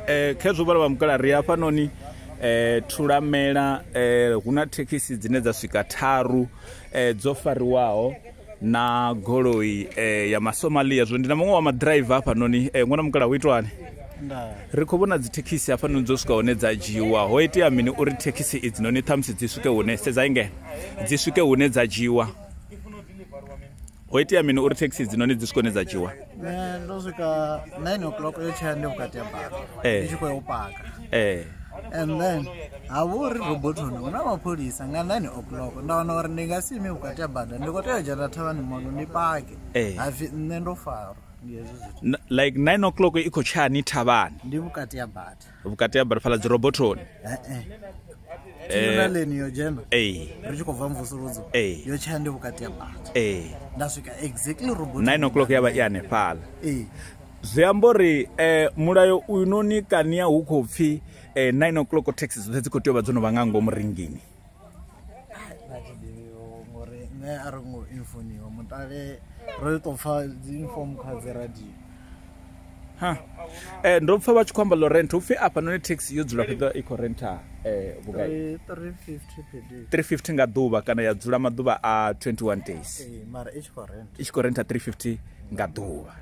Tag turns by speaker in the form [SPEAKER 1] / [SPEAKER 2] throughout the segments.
[SPEAKER 1] eh, khezwo vhala vha mukala ri hafhanoni eh, thulamela eh, hu na thekhisi dzine dza swika tharu eh, dzo fariwaho na goloi eh, ya masomalia zwo ndi na muṅwe wa madraiva hafhanoni eh, ṅwana mukala hu itwani ri khou vhona dzithekhisi hafhanoni dzo swika hune dza dzhiwa ho itea mini uri thekhisi idzi noni ṱhamusi dzi swike hune sedza ingeno dzi swike hune dza dzhiwa ho itea mini uri thekhisi dzinoni dzi swikone dza dzhiwa ne ndo swika 9 o'clock yo tshea ndi vhukati ya baka eh. ndi tshi khou ya u paka eh. and then ha vha uri robotoni hu na mapholisa nga 9 o'clock nda wana uri ndi nga si ime vhukati ya bada ndi khou tea u dzhena thavhani mono ndi pake eh. hapfi nṋe ndo farwa like 9 o'clock i khou tshani thavhani ndi vhukati ya bada vhukati ha balifhala dzi robothoni eh, eh. tinonaleni eh, yo dzhena eh. ri tshi khou bva mvusuludzo eh. yo tshaya ndi vhukati ya bata nda swika exactly robot 9 o'clock ya vha i hanefhala zwi amba uri um mulayo uyu noni kania hu khou pfhi um 9 o'clock taxi dzoṱhe dzi khou tea u vha dzo no vha nga ngomu ringini ngori nṋe a ri ngo infoniwa mutale ro to pfa dzi inform kha dzi radio ha eh ndo pfa vha tshi khou amba lo rent upfi afha noni taxi yo dzula fhedza i khou renta eh vhugai 350 350 nga ḓuvha kana ya dzula maḓuvha a 21 days eh mara i tshi khou renta i tshi khou renta 350 nga ḓuvha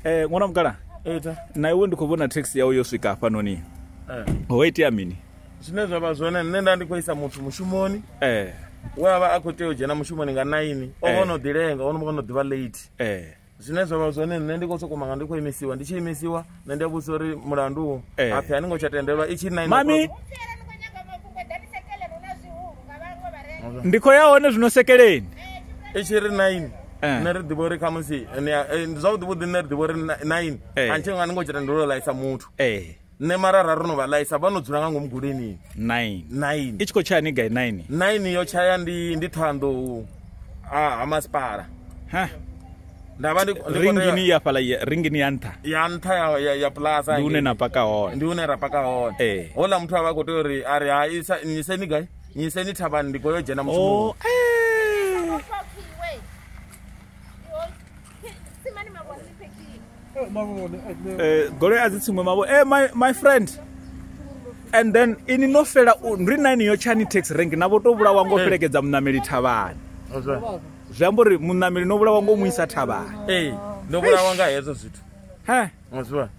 [SPEAKER 1] Eh ṅwana mukala. Eta. Na iwe ndi khou vhona taxi yau yo swika hafha noni. Eh. Ho itea mini? Zwine zwa vha zwone nṋe nda ndi khou isa muthu mushumoni. Eh. We avha a khou tea u dzhena mushumoni nga 9. O vha eh. no ḓilenga, o no vha no ḓivha late. Eh. Zwine zwa vha zwone nṋe ndi khou sokou manga ndi khou imisiwa, ndi tshi imisiwa. nṋe ndi a vhudzisa uri mulandu u eh. aphi a ni ngo tsha tendelwa i tshi nine mami ndi khou ya hone zwino sekeleni i tshi ri nine eh. nṋe ri ḓivha uri khamusi eh, zwavhuḓi vhuḓi nṋe ri ḓivha uri nine a ntshi nga ni ngo tsha tendelwa u laisa muthu nṋe marara ro no vha laisa vha no dzula nga ngomu guleni nine nine i tshi khou tshaya ni gai nine nine yo tshaya ndi ndi ṱhoanḓou ha masipala ha nda vha ndi ndi khou tea- ringini ya fhala ya- ringini ya nṱha ya nṱha ya- ya- ya plaza ndi hune hangei. na paka hone ndi hune ra paka hone Eh. hola muthu a vha khou tea uri a ri hai isa- nnyiseni gai nnyiseni thavhani ndi khou yo dzhena mushumoni Oh, eh. Eh, goloi a dzi tsiṅwe mavho e my, my friend and then ini no fela u- ri na ini yo tshani tax rank na vho to vhulawa ngo fhelekedza muṋameli thavhani That's right. zwi amba uri muṋameli no vhulawa ngo mu isa thavhani ee ndo vhulawa nga hezwo zwithu he muzwa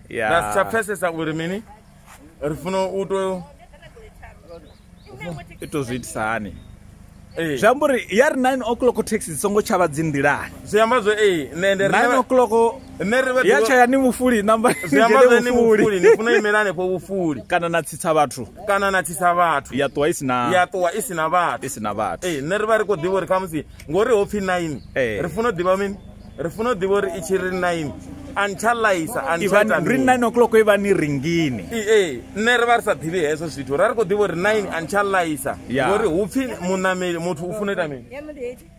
[SPEAKER 1] ya na si tsha pfesesa uri mini ri funa u to i to zwi itisa hani ee zwi amba uri ya ri 9 o'clock taxi dzi songo tshavha dzi nḓilani zwi amba zwo ee nṋe ndi 9 o'clock nṋe ri vhe ya tshaya ni vhufuli namba zwi amba zwe ni vhufuli ni funa imela hanefho vhufuli kana na tsitsa vhathu kana na tsitsa vhathu ya ṱuwa i si na ya ṱuwa i si na vhathu i si na vhathu ee nṋe ri vha ri khou ḓivha uri khamusi ngori ho pfhi nine ri funa u ḓivha mini ri funa u ḓivha uri i tshi ri nine antshaḽaisa antshaitari nine o'clock i vha ni ringini ee nṋe ri vha ri sa ḓivhi hezwo zwithu ra ri khou ḓivha uri nine antshaḽaisa ngori hu pfhi muṋameli muthu u funa ita mini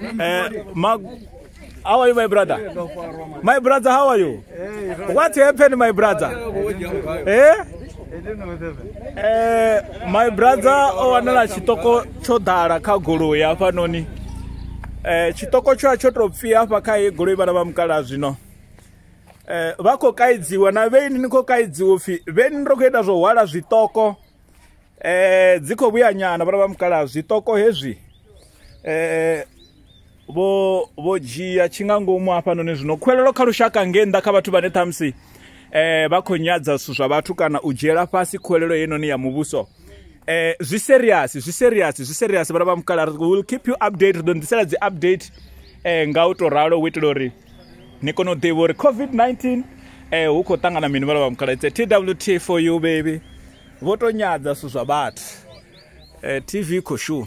[SPEAKER 1] Uh, Mag- how are you, my brother? My brother, how are you? What happened, my brother? Eh? Eh, my brother o wanala chitoko tsho ḓala kha goloi hafhanoni eh chitoko tsho tsho to pfi hafha kha ye goloi vhana vha mukala zwino eh vha khou kaidziwa na vheini ni khou kaidziwa upfi vheini ro khou ita zwo hwala zwitoko eh dzi kho vhuya nyana vhana vha mukala zwiṱoko hezwi eh vho vho dzhia tshi nga ngomu hafhanoni zwino khwelelo kha lushaka nge nnḓa kha vhathu vhane ṱhamusi eh vha khou nyadza zwithu zwa vhathu kana u dzhiela fhasi khwelelo yenoni ya muvhuso eh zwi serious zwi serious zwi serious vhana vha mukala will keep you update ri ḓo ḓisela dzi update eh nga u to ralo u itela uri ni kone u ḓivha uri covid-19 um eh, hu khou ṱangana mini vhala vha mukhala its a twt for you baby vho to nyadza zwithu zwa vhathu um eh, tv i khou shuma